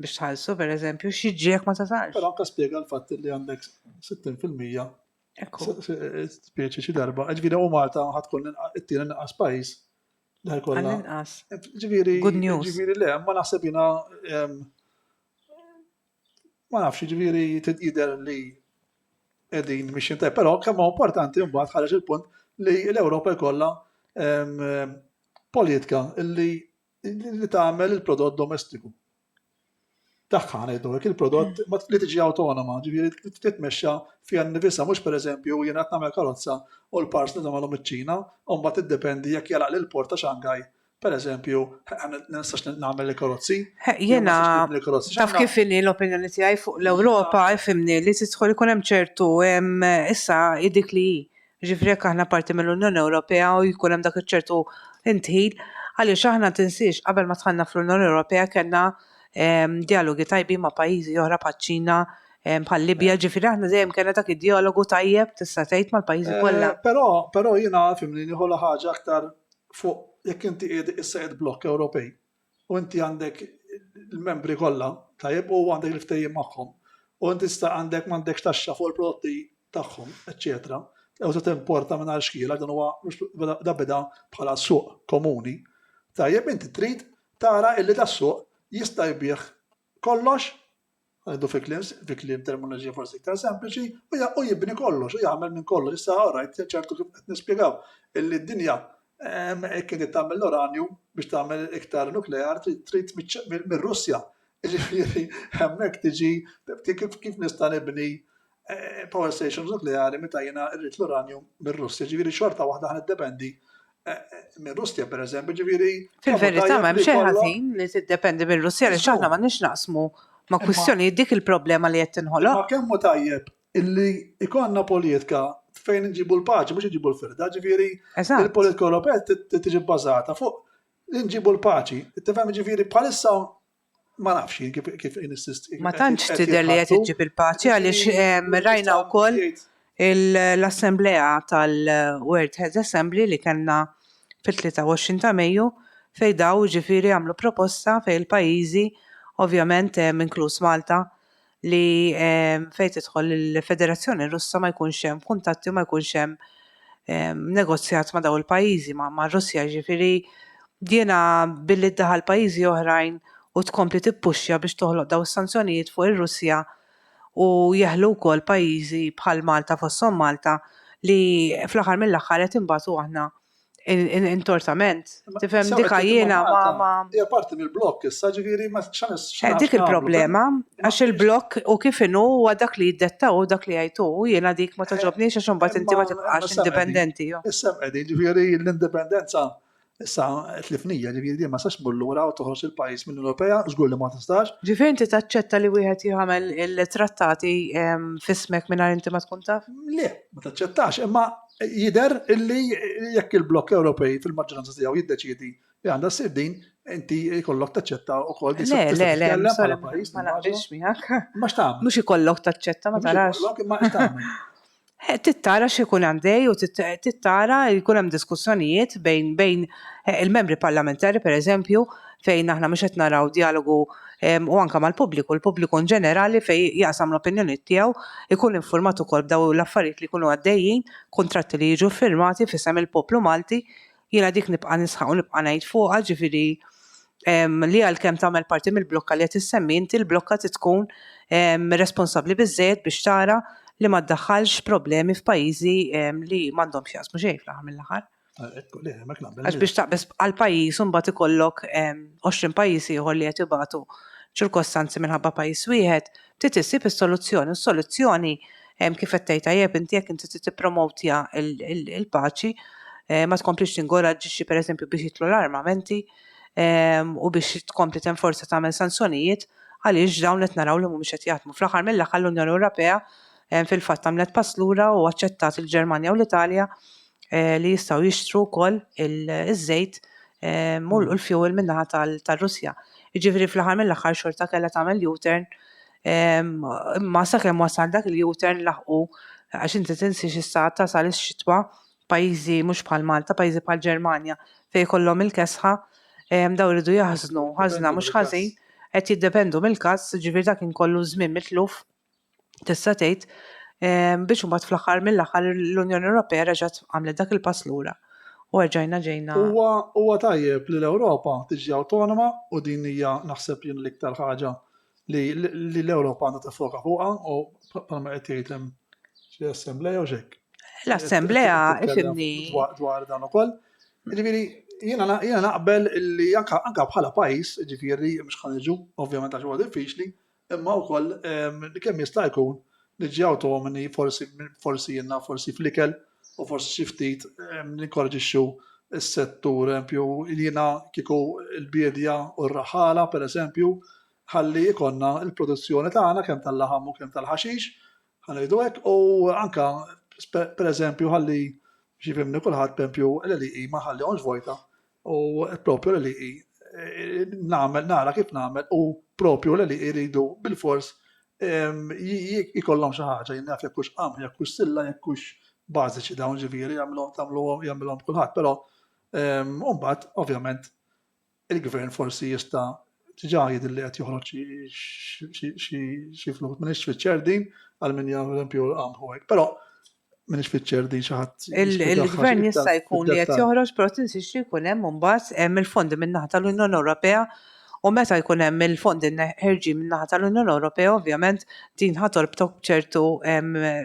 Speaker 1: biex tħallsu per eżempju, xieġi jek ma tasalx. Pero anka spiega l-fatt li għandek 60% Ekku. Spieċi xi darba, ġviri u Malta ħatkun it-tieni naqas pajis Dar kollha. Għall-inqas. Ġifieri. Good news. Ġifieri le, ma naħseb jiena ma nafx, ġifieri jidher li qegħdin biex jintaj, però kemm importanti mbagħad ħareġ il-punt li l-Ewropa jkollha politika li li tagħmel il-prodott domestiku. tagħha ngħidu hekk, il-prodott li tiġi awtonoma, ġifieri titmexxa fiha nnifisha mhux pereżempju jiena qed nagħmel karozza u l-parts li nagħmelhom iċ-Ċina u mbagħad tiddependi jekk jagħlaqli l-port ta' Shanghai pereżempju ma nistax nagħmel il-karozzi. Jiena taf kif inhi l-opinjoni tiegħi fuq l-Ewropa ifhimni li tidħol ikun hemm ċertu issa dik li Jiġifieri jekk aħna parti mill-Unjoni Ewropea u jkun hemm dak iċ-ċertu ndħil, għaliex aħna tinsiex qabel ma dħalna fl-Unjoni Ewropea kellna djalogi tajbin ma' pajjiżi oħra bħaċ-Ċina, bħal-Libja, jiġifieri aħna dejjem kellna dak id-djalogu tajjeb tista' tgħid mal-pajjiżi kollha. Però, però jiena fhimni nieħu l-ħaġa aktar fuq jekk inti qiegħed issa qiegħed blokk Ewropej, u inti għandek il-membri kollha, tajjeb, u għandek il-ftehim magħhom. U inti sta għandek m'għandekx taxxa fuq il-prodotti tagħhom, eċċetera. Ew se timporta minn għal xkiela dan huwa da bida bħala suq komuni. Tajjeb inti trid tara illi da suq jista' jbih kollox Ħdu fi kliem, fi kliem terminoloġija forsi iktar sempliċi, u ja- u jibni kollox, u jagħmel minn kollox. Issa orajt, ċertu kif qed nispjegaw, illi d-dinja ehm, hekk inti tagħmel l-uranju biex tagħmel iktar nuklear trid trid miċ- mir- mir-Russja. Jiġifieri hemmhekk tiġi ti- kif kif nista' nibni eh, power stations nukleari meta jiena rrid l-uranju mir-Russja, ġifieri xorta waħda ħan iddependi eh, minn Russja per eżempju, ġifieri. Fil-verità ma hemm xejn ħażin li tiddependi minn Russja li xaħna ma nix naqsmu ma kwistjoni dik il-problema li qed tinħoloq. Ma kemm tajjeb illi ikonna politika fejn nġibu l-paċi, mhux nġibu l-firda, ġifieri il-politika Ewropea tiġi bbażata fuq nġibu l-paċi. Tifhem ġifieri bħalissa ma nafx jien kif kif insist. Ma tantx tidher li qed iġġib il-paċi għaliex ehm, rajna wkoll l-assemblea tal-World Head Assembly li kellna fit-23 ta' Mejju fej daw ġifiri għamlu proposta fej il-pajjiżi ovvjament ehm, inkluż Malta li fejn tidħol il-Federazzjoni Russa ma jkunx hemm kuntatti ma jkunx hemm negozjat ma' daw il-pajjiżi ma' Russja ġifieri jiena billi ddaħal pajjiżi oħrajn u tkompli tippuxja biex toħloq daw is-sanzjonijiet fuq ir-Russja u jeħlu wkoll pajjiżi bħal Malta fosthom Malta li fl-aħħar mill-aħħar qed inbatu aħna Intorsament, tifhem dika jiena ma ma. Hija parti mill-blokk issa ġifieri ma xanis. Eh, dik il-problema, għax il-blokk u kif inhu huwa dak li jiddettaw u dak li jgħidu jiena dik ma toġobniex għax imbagħad inti ma tibqax indipendenti. Issa qegħdin ġifieri l-indipendenza issa tlifnija ġifieri din ma sax mur lura u toħroġ il-pajjiż minn Ewropea żgur li ma tistax. Ġifieri inti taċċetta li wieħed jagħmel il-trattati fismek mingħajr inti ma tkun taf? Le, ma taċċettax, imma Jidher illi jekk il-blokk Ewropej fil-maġġoranza tiegħu jiddeċiedi li għandha ssir din, inti jkollok taċċetta wkoll din Le, le, le, bħala pajjiż. Ma naqbilx miegħek. Ma x'tagħmel? Mhux ikollok taċċetta ma tarax. Ma x'tagħmel? Eh, tittara x'ikun għandej u tittara jkun hemm diskussjonijiet bejn bejn eh, il-membri parlamentari pereżempju fejn aħna mhux qed naraw dialogu u anke mal-pubbliku, l-pubbliku in ġenerali fejn jaqsam l-opinjonijiet tiegħu, ikun infurmat ukoll b'daw l-affarijiet li jkunu għaddejjin, kuntratti li jiġu ffirmati f'isem il-poplu Malti. Jiena dik nibqa' nisħaq u nibqa' ngħid fuqha, ġifieri li għalkemm tagħmel parti mill-blokka li qed issemmi inti, l-blokka trid tkun responsabbli biżżejjed biex tara li ma ddaħħalx problemi f'pajjiżi li m'għandhom x'jaqsmu xejn fl-aħħar mill-aħħar. Għax biex taqbes għal pajjiż imbagħad ikollok 20 pajjiż ieħor li qed ibatu ċirkostanzi minħabba pajjiż wieħed, trid issib is-soluzzjoni. Is-soluzzjoni kif qed tgħid tajjeb inti jekk inti trid tippromowtja l-paċi, ma tkomplix tingoraġġixxi pereżempju biex jitlu l-armamenti u biex tkompli tenforza tagħmel sanzjonijiet għaliex dawn qed naraw li mhumiex qed jaħdmu. Fl-aħħar mill-aħħar l-Unjoni Ewropea fil-fatt għamlet pass lura u aċċettat il-Ġermanja u l-Italja eh, li jistgħu jixtru wkoll iż-żejt eh, u mm. l-fuel minnaħa tal-Russja. Jiġifieri fl-aħħar mill-aħħar xorta kellha tagħmel U-turn imma sakemm wasal dak il-U-turn laħqu għax inti tinsiex issa tasal ix-xitwa pajjiżi mhux bħal Malta, pajjiżi bħal Ġermanja fejn kollhom il-kesħa daw iridu jaħżnu ħażna mhux ħażin qed jiddependu mill-każ, ġifieri dak inkollu żmien mitluf tista' tgħid, biex imbagħad fl-aħħar mill-aħħar l-Unjoni Ewropea reġgħet għamlet dak il-pass lura u erġajna ġejna. Huwa huwa tajjeb li l-Ewropa tiġi awtonoma u din hija naħseb jien l-iktar ħaġa li li l-Ewropa għandha tiffoka fuqha u bħalma qed jgħid hemm xi assemblea jew x'hekk. L-assemblea ifimni dwar dan ukoll. Ġifieri jiena jiena naqbel li anke anke bħala pajjiż, ġifieri mhux ħaniġu ovvjament għax huwa diffiċli, Imma wkoll kemm jista' jkun niġi awtonomni forsi forsi jiena forsi fl-ikel u forsi xi ftit ninkoraġixxu s-settur empju jiena kieku l-biedja u r-raħħala pereżempju ħalli jkollna l-produzzjoni tagħna kemm tal-laħam u kemm tal-ħaxix ħa ngħidu hekk u anke pereżempju ħalli xi jifhimni kulħadd pempju l-għelieqi ma ħallihomx vojta U propju l-LEE nagħmel nara kif nagħmel u propju l-LEE jridu bilfors jkollhom xi ħaġa jien naf jekk hux qamħ, jekk hux silla, jekk hux bażiċi dawn ġifieri jagħmluhom tagħmluhom jagħmilhom kulħadd, però mbagħad ovvjament il-gvern forsi jista' diġà jidher li qed joħroġ xi fluħ. Minix fiċċer din għal min jagħmel eżempju l-qamħ u hekk. Però minix fiċċer din xi ħadd. Il-gvern jista' jkun li qed joħroġ però tinsiex li jkun hemm imbagħad hemm il-fondi min-naħa tal-Unjoni Ewropea u meta jkun hemm il-fondi ħerġin min-naħa tal-Unjoni Ewropea ovvjament din ħatolb tok ċertu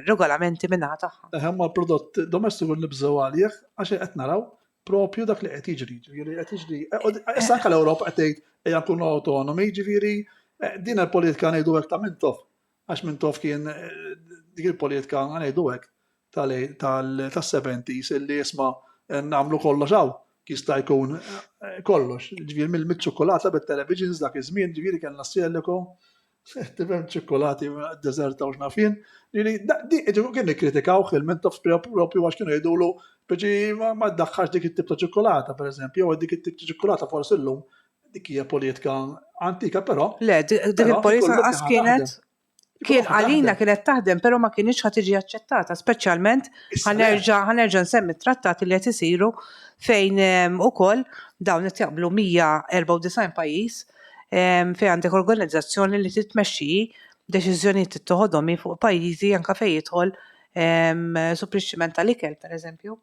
Speaker 1: regolamenti min-naħa tagħha. Hemm l-prodott domestiku nibżgħu għalih għax qed naraw propju dak li qed jiġri, ġifieri qed jiġri. Eh, issa anke l-Ewropa qed tgħid ejja nkunu awtonomi, ġifieri eh, din il-politika ngħidu hekk ta' mintof. Għax mintof kien eh, dik il-politika ngħidu hekk tal-70s illi isma' nagħmlu kollox hawn jista' jkun kollox. Ġifieri mill-ċokolata bit-televisions dak iż-żmien, ġifieri kellna s-sieliku, Tifhem ċikkulati deżerta u x'nafien, li ġifieri kien nikkritikawh il-Mintoff propju għax kienu jgħidulu biġi ma ddaħħalx dik it-tip ta' ċikkulata pereżempju, jew dik it-tip ta' ċikkulata forsi llum dik hija politika antika però. Le, dik il-politika qas kienet kien għalina kienet taħdem però ma kienx ħa tiġi aċċettata, speċjalment ħanerġa' nsemmi t-trattati li qed isiru fejn ukoll dawn qed jaqblu 194 pajjiż fejn għandek organizzazzjoni li titmexxi deċiżjonijiet tittoħodhom hi fuq pajjiżi anke fejn jidħol supplixximent tal-ikel pereżempju.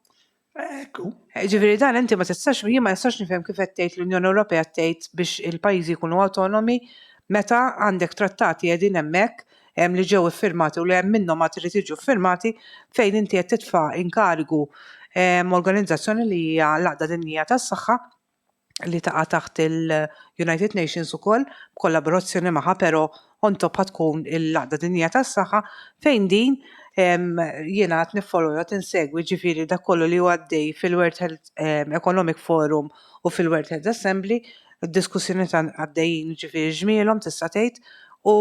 Speaker 1: Ekku. Ġifieri dan inti ma tistax jien ma nistax nifhem kif qed tgħid l-Unjoni Ewropea tgħid biex il-pajjiżi jkunu awtonomi meta għandek trattati qegħdin hemmhekk li ġew iffirmati u li hemm minnhom għad irid jiġu ffirmati fejn inti qed titfa' inkarigu organizzazzjoni li hija l-Għaqda Dinjija tas-Saħħa li taqa' taħt il-United Nations ukoll b'kollaborazzjoni magħha però on top ħa tkun il-Għaqda Dinjija tas-Saħħa fejn din jiena qed niffolowja qed insegwi ġifieri dak kollu li huwa għaddej fil-World Health Economic Forum u fil-World Health Assembly, id-diskussjonijiet għaddejjin ġifieri ġmielhom tista' tgħid u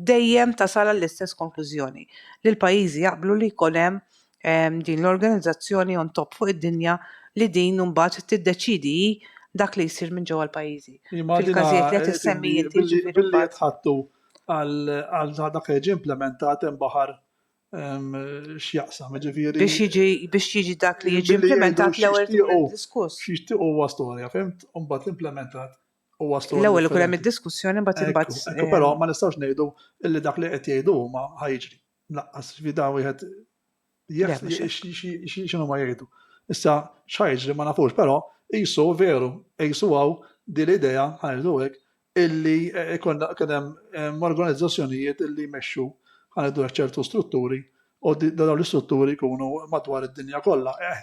Speaker 1: dejjem tasal għall-istess konklużjoni li l-pajjiżi jaqblu li jkun hemm din l-organizzazzjoni on top fuq id-dinja li din mbagħad tiddeċidi dak li jsir minn ġewwa l-pajjiżi. Fil-każijiet li qed issemmi inti ġifieri. Billi qed ħattu għal dak li jiġi implementat hemm baħar x'jaqsam, ġifieri. Biex jiġi biex jiġi dak li jiġi implementat l-ewwel diskuss. Xixtieq huwa storja, fimt? Imbagħad l-implementat huwa storja. L-ewwel ikun hemm id-diskussjoni mbagħad imbagħad. Però ma nistgħux ngħidu illi dak li qed jgħidu huma ħajġri. Laqqas fida wieħed xinu ma jgħidu. Issa xħajġ li ma nafux, però jisu veru, jisu għaw di l-idea ħajdu hekk illi eh, konna kienem eh, organizzazzjonijiet illi jmexxu ħajdu ċertu strutturi u dawn l-istrutturi jkunu madwar id-dinja kollha. Eh,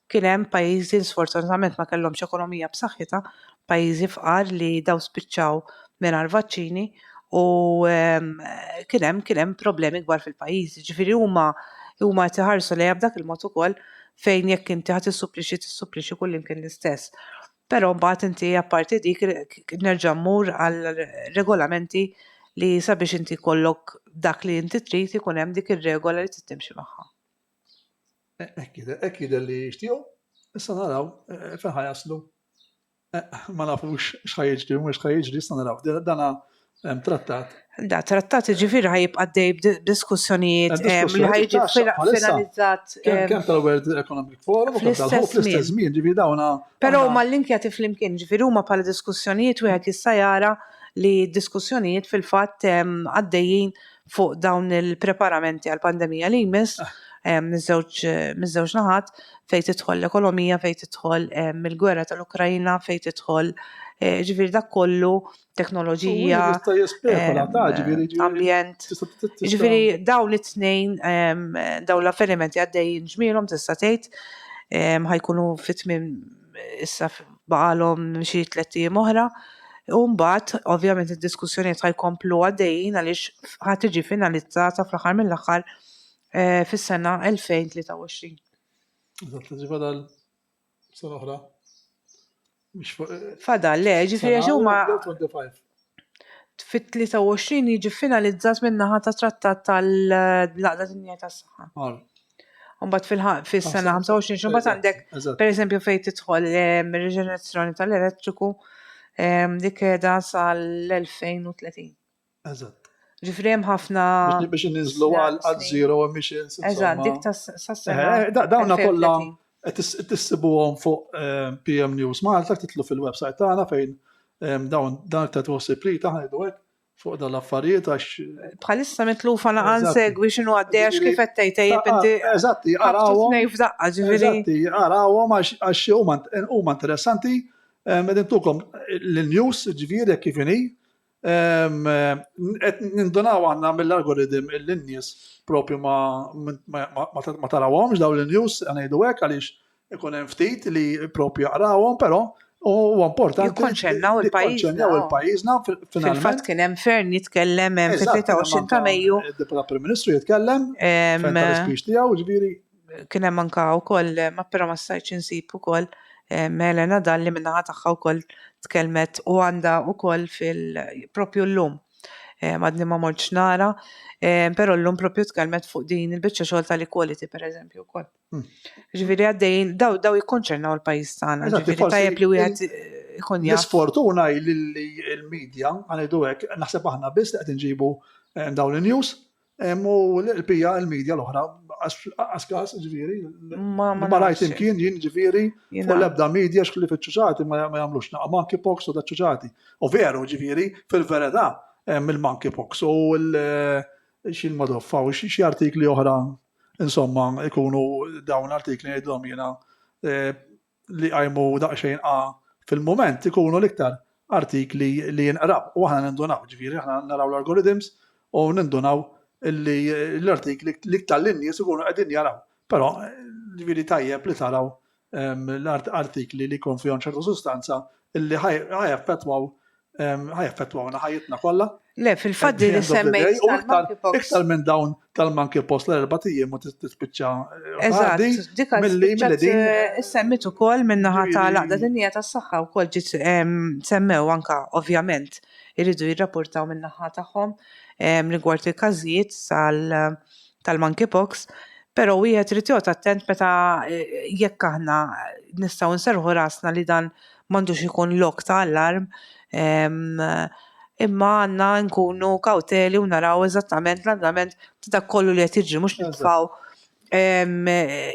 Speaker 1: kien hemm pajjiżi li sfortunatament ma kellhomx ekonomija b'saħħitha, pajjiżi fqar li daw spiċċaw mingħajr vaċċini u ehm, kien hemm kien hemm problemi kbar fil-pajjiżi. Ġifieri huma huma qed iħarsu lejha b'dak il-mod ukoll fejn jekk inti ħadd issupplixxi tissupplixxi kullimkien l-istess. Però mbagħad inti apparti dik nerġa' mmur għal regolamenti li sabiex inti kollok dak li inti trid ikun hemm dik ir-regola li tittimxi magħha. Hekk jidher li jixtiequ, issa naraw fejn ħa jaslu. Ma nafux x'ħa jiġri u mhux ħa jiġri, issa naraw. Dana hemm trattat. Da trattat ġifieri ħa jibqa' dej b'diskussjonijiet li ħa jiġi finalizzat. Kemm tal-World Economic Forum u kemm tal-istess żmien ġifieri dawn. Però huma l-link jagħti flimkien, ġifieri huma bħala diskussjonijiet wieħed jista' jara li d-diskussjonijiet fil-fatt għaddejjin fuq dawn il-preparamenti għal pandemija li jmiss ah. miż-żewġ naħat fejn tidħol l-ekonomija, fejn tidħol il-gwerra tal-Ukrajna, fejn tidħol eh, ġifieri dak kollu teknoloġija, ambjent. Ġifieri dawn it-tnejn dawn l-avvenimenti għaddejjin ġmielhom tista' tgħid ħajkunu fit-tmiem issa baqalhom xi tliet ijiem oħra. U mbagħad, ovvjament, id-diskussjonijiet ħajkomplu għaddejjin għaliex ħad tiġi finalizzata fl-aħħar mill-aħħar eh, fis-sena 2023. Eżatt, ġifa dal sena oħra. Fadal, le, ġifieri huma. fit-23 jiġi finalizzat min-naħa ta' trattat tal-Laqda Dinjija tas-Saħħa. Għal. Mbagħad fil-ħa- fis-sena 25 xi mbagħad għandek Eżatt. pereżempju fejn tidħol ehm, ir-riġenerazzjoni tal-elettriku ehm, li keda sal-2030. Eżatt. Ġifri hemm ħafna Biex- Biex ninżlu għal għal snin. zero emissions. Eżatt, insomma. dik tas- sas-sena. Eh, da- Dawna kollha 2030. Tissibuhom fuq PM News Malta, titlu fil-website tagħna fejn dawn dan ta' tħossib li taħdu hekk fuq dan l-affarijiet għax. Bħalissa mitlufa naqan segwi x'inhu għaddej għax kif qed tgħid tajjeb inti. Eżatti, qarawhom. Tnej f'daqqa ġifieri. Eżatti, qarawhom għax huma interessanti. Qegħdin tukom l-news ġifieri kif inhi. Qed nindunaw aħna mill-algorithm illi n-nies propju ma tarawhomx dawn in-news, ngħidu hekk għaliex ikun hemm ftit li propju jaqrawhom, però huwa importanti. Jikkonċernaw il-pajjiż. Jikkonċernaw il-pajjiżna finalment. Fil-fatt kien hemm Fern jitkellem hemm fit-23 ta' Mejju. Deputat Prim Ministru jitkellem. Fern tal-ispiex tiegħu, ġifieri kien hemm anka wkoll ma però ma stajtx insib ukoll Helena Dalli min-naħa tagħha wkoll tkellmet u għandha wkoll fil propju llum madni ma mortx nara, però llum propju tkellmet fuq din il-biċċa xogħol tal-equality pereżempju wkoll. Hmm. Ġifieri għaddejjin daw daw jikkonċernaw il-pajjiż tagħna, ġifieri tajjeb li wieħed ikun jaf. L-isfortuna li l-medja għanidu hekk naħseb aħna biss li qed inġibu eh, dawn in-news Hemm u l-qlbija il-medja l-oħra, għax każ ġifieri, ma rajt imkien jien ġifieri, u l-ebda medja xkli fiċ-ċuċati ma jagħmlux naqgħa monkeypox u daċ-ċuċati. U veru ġifieri, fil-verità, hemm il-monkeypox u xi l-modoffa u xi artikli oħra, insomma, ikunu dawn l-artikli ngħidilhom jiena li jqajmu daqsxejn qagħa fil-mument ikunu l-iktar artikli li jinqraw u aħna nindunaw, ġifieri aħna naraw l-algorithms u nindunaw li l-artikli l-iktar li n-nies ikunu qegħdin jaraw. Però ġifieri tajjeb li taraw ehm, l-artikli li jkun fihom ċertu sustanza illi ħaj effettwaw ħajaffettwawna ħajjitna kollha. Le, fil-fatt li semmejt tal-monkeypox. Iktar minn dawn tal-monkeypox l-erba' tijiem u tispiċċa. Eh, Eżatt, dik eh, semmit ukoll minnaħa tal-għaqda dinja tas-saħħa wkoll ġiet semmew anka ovvjament iridu jirrapportaw minnaħa tagħhom rigward il-każijiet tal-monkeypox. Pero wieħed irid jgħod attent meta eh, jekk aħna nistgħu nserħu rasna li dan M'għandux ikun lok ta' allarm imma għandna nkunu kawteli u naraw eżattament l-andament ta' dak kollu li qed jiġri mhux nitfgħu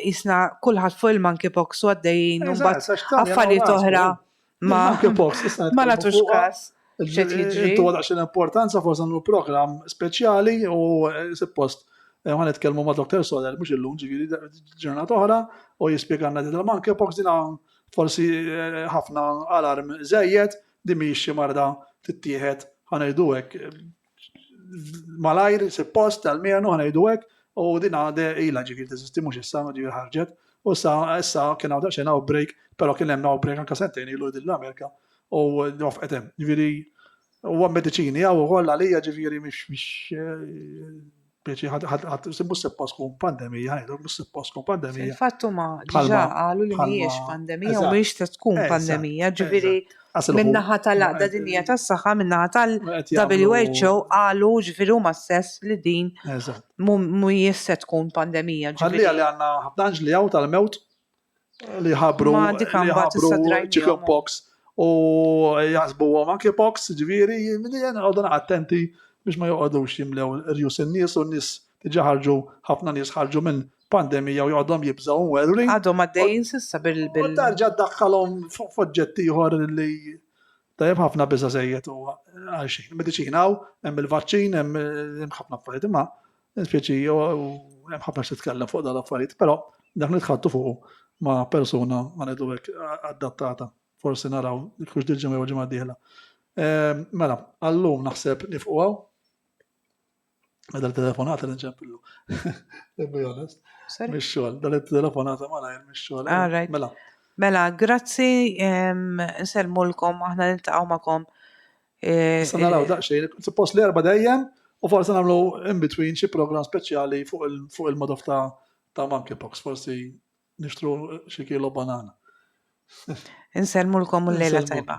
Speaker 1: qisna kulħadd fuq il-monkeypox u għaddejjin u mbagħad affarijiet oħra ma ma nagħtux kas x'qed jiġri. Intuha daqsxejn importanza forsi nagħmlu programm speċjali u suppost ħa nitkellmu ma' Dr. Soler mhux illum ġifieri ġurnata oħra u jispjegalna din il-monkeypox din Forsi ħafna alarm żejjed, din mhijiex xi marda tittieħed ħa ngħidu hekk malajr suppost tal-mienu ħa ngħidu hekk u din għade ilha ġifieri teżisti mhux issa ġifieri ħarġet. U sa issa kien hawn daqsxejn outbreak, però kien hemm outbreak anke sentejn ilu din l-Amerika u wafqet hemm. Ġifieri huwa mediċini hawn ukoll għalija ġifieri mhix Biex ħadd mhux suppost tkun pandemija, ħajdu mhux suppost tkun pandemija. Fatt huma ġiġa qalu li mhijiex pandemija u mhijiex se tkun pandemija, ġifieri min-naħa tal-Għaqda Dinjija tas-Saħħa, min-naħa tal-WHO qalu ġifieri huma stess li din mhijiex se tkun pandemija. Ġifieri li għandna ħafna anġli hawn tal-mewt li ħabru Ma dik li għamba ħabru tista' drajnihom. chicken pox u jasbu għom anki pox ġviri li jen għodun attenti biex ma joqodux jimlew rjus n-nis u n-nis tiġa ħarġu ħafna nis ħarġu minn pandemija u joqodhom jibżaw u għerri Għadhom għaddejjin s'issa bil u bil tarġa dakkalhom fuq foġġett ieħor li tajjeb ħafna biża' żejjed u għal xejn. Mediċina u hemm il-vaċċin, hemm hemm ħafna affarijiet imma Nispjaċi, u hemm ħafna x'titkellem fuq dan l-affarijiet, però dak nitħattu fuq ma' persuna ma ngħidu hekk adattata. Forsi naraw kux dil ġimgħa jew ġimgħa dieħla. Ehm, mela, għallum naħseb nifqu għaw. Meta telefonata nċempillu. To be honest. Mix xogħol, dan telefonata ma lajr mix xogħol. Eh, mela. Mela, grazzi, ehm, nselmulkom, aħna niltaqgħu magħkom Eh, Issa naraw eh. daqsxejn, suppost li erba' dejjem u forsi nagħmlu in between xi program speċjali fuq il-modof ta' ta' monkeypox, forsi nixtru xi kilo banana. Inselmulkom l-lejla tajba.